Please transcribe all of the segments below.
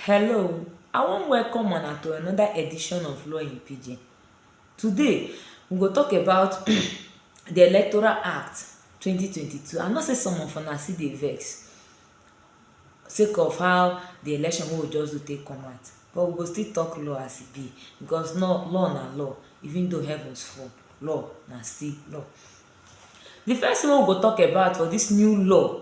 Hello, I wan welcome una to another edition of Law in Pidgin. Today, we go talk about the Electoral Act 2022. I know say some of una still dey vex sake of how the election wey we just do take come out, but we go still talk law as e be because law law na law even though heavens fall, law na still law. The first thing wey we go talk about for this new law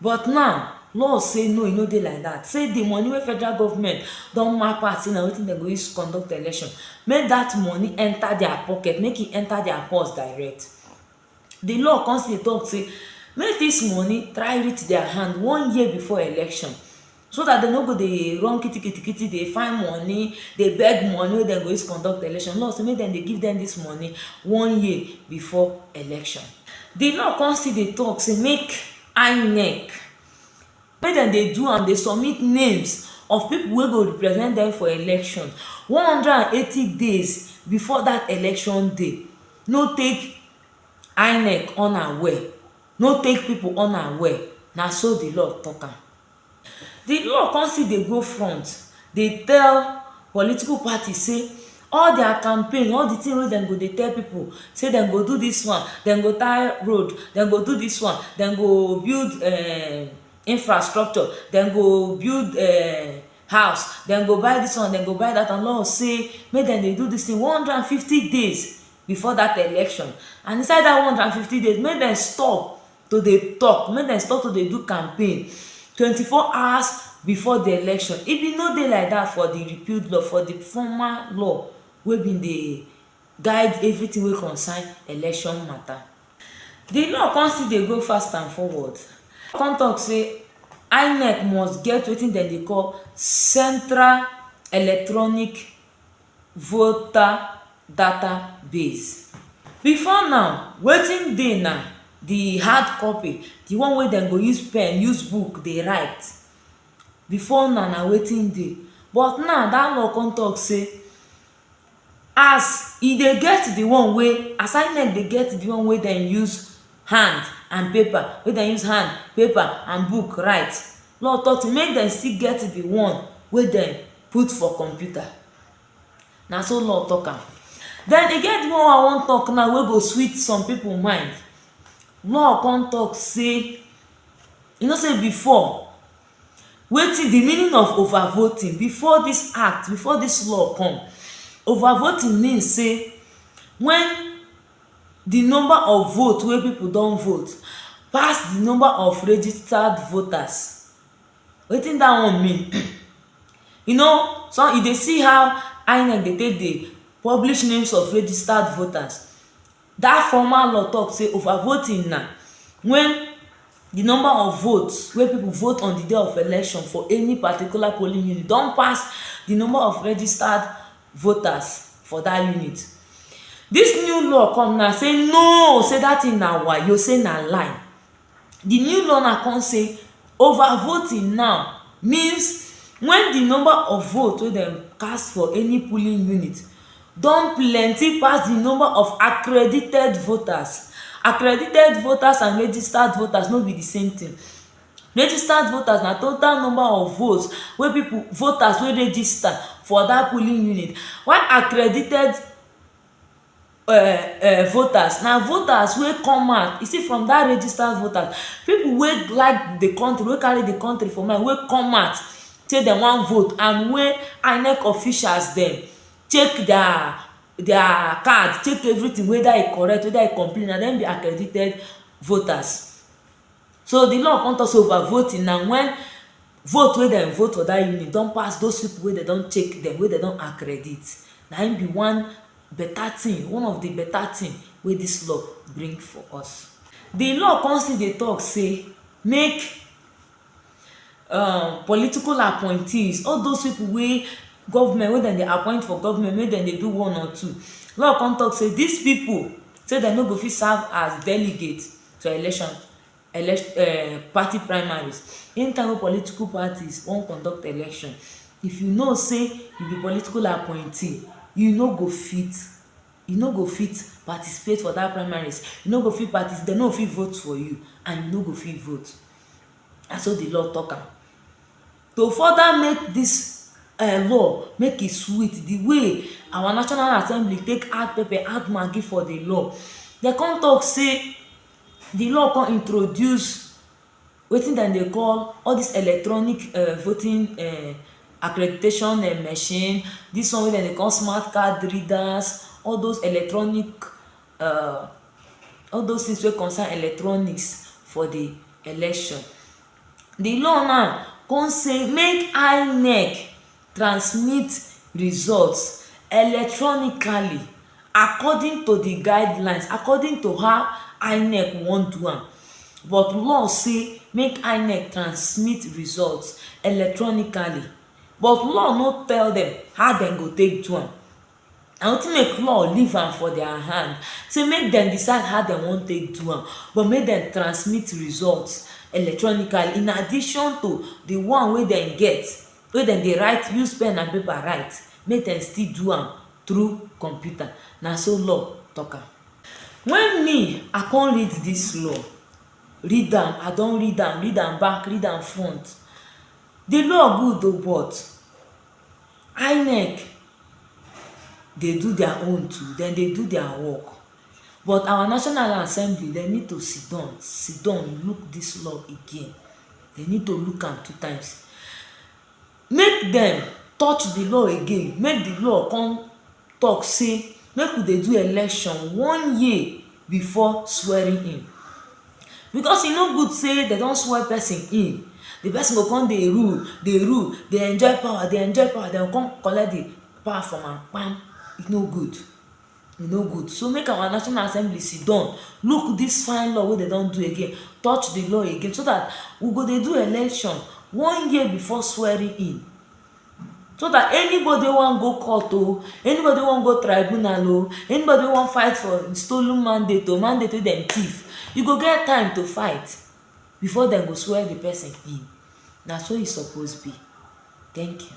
But now, law say no e no dey like dat, say di money wey federal government don map out say na wetin dem go use conduct election, make dat money enter dia pocket, make e enter dia purse direct. Di law come still dey talk say make dis money try reach dia hand one year before election. so dat dem no go dey run kiti-kiti-kiti dey find moni, dey beg moni wey dem go use conduct election, law sey make dem dey give dem dis moni one year before election. Di law kon still dey talk sey make INEC, make dem dey do am dey submit names of pipu wey go represent dem for election one hundred and eighty days before dat election day, no take INEC unaware, no take pipu unaware, na so di law talk am. Di law come still dey go front dey tell political party say all dia campaign, all di tin wey dem go dey tell pipo say dem go do dis one, dem go tie road, dem go do dis one, dem go build um infrastructure, dem go build um house, dem go buy dis one, dem go buy dat one, law say make dem dey do dis tin one hundred and fifty days before dat election and inside dat one hundred and fifty days make dem stop. to dey talk, make dem stop to dey do campaign twenty four hours before di election. E bin no dey like dat for di repealed law, for di former law wey bin dey guide evritin wey concern election mata. Di law come still dey go fast and forward, come talk say INEC must get wetin dem dey call central electronic. voter data base. Before now, wetin dey na the hard copy, the one wey dem go use pen, use book dey write. Before now, na wetin dey. But now, dat law con talk sey as e dey get the one wey as inec dey get the one wey dem use hand and paper, wey dem use hand, paper and book write law talk say make dem still get the one wey dem put for computer na so law talk am then e get the one wey i wan talk now wey go sweet some people mind law come talk say you know say before wetin the meaning of over voting before this act before this law come over voting mean say when di number of vote wey pipo don vote pass di number of registered voters wetin dat one mean you know some you dey see how INEC dey take dey publish names of registered voters dat formal law tok say over voting na wen di number of votes wey pipo vote on di day of election for any particular polling unit don pass di number of registered voters for dat unit. Dis new law come now say no say dat thing na wayo, say na lie. Di new law now come say over voting now means wen di number of vote wey dem cast for any polling unit don plenty pass di number of accredited voters. Accredited voters and registered voters no be di same thing. Registered voters na total number of votes wey people voters wey register for that polling unit while accredited um um voters na voters wey come out you see from that registered voters people wey like the country wey carry the country for mind wey come out say dem wan vote and wey INEC officials dem check their their card check everything whether e correct whether e complete na dem be accredited voters So di law kon tok sey over voting na wen vote wey dem vote for dat unit don pass those pipo wey dem don check dem, wey dem don accredit, na im be one beta tin, one of di beta tin wey dis law bring for us. Di law kon still dey tok sey make um political appointees, all those pipo wey government wey dem dey appoint for government make dem dey do one or two, law kon tok sey dis pipo sey dem no go fit serve as delegates to election um party primaries anytime wey political parties wan conduct election if you know sey you be political appointee you no go fit you no go fit participate for dat primaries you no go fit partici dem no go fit vote for you and you no go fit vote na so di law talk am To further make dis um law make e sweet di way our national assembly take add pepper add maggi for di law dey come talk say di law come introduce wetin dem dey call all dis electronic um voting um accreditation um machine dis one wey dem dey call smart card readers all those electronic um all those things wey concern electronics for di election. the law now come say make INEC transmit results electronically according to the guidelines, according to how INEC wan do am but law say make INEC transmit results electronically but law no tell dem how dem go take do am na wetin make law leave am for dia hand sey make dem decide how dem wan take do am but make dem transmit result electronically in addition to di one wey dem get wey dem dey write use pen and paper write make dem still do am through computer na so law talk am. Wen me I come read dis law read am I don read am read am back read am front di law good oh but INEC dey do their own too, dem dey do their work but our national assembly dem need to sit down, sit down look dis law again, dem need to look am two times make dem touch de law again, make de law come talk sey make we dey do election one year before swearing in. Because e no good sey dem don swear person in, di person go come dey rule, dey rule, dey enjoy power, dey enjoy power, dem go come collect di power from am kpam, e no good, e no good. So make our National Assembly sit down, look dis fine law wey dem don do again, touch di law again so dat we go dey do election one year before swearing in. so dat anybody wey wan go court o anybody wey wan go tribunal o anybody wey wan fight for stolen mandate o mandate wey dem thief e go get time to fight before dem go swear di person in na so e suppose be thank you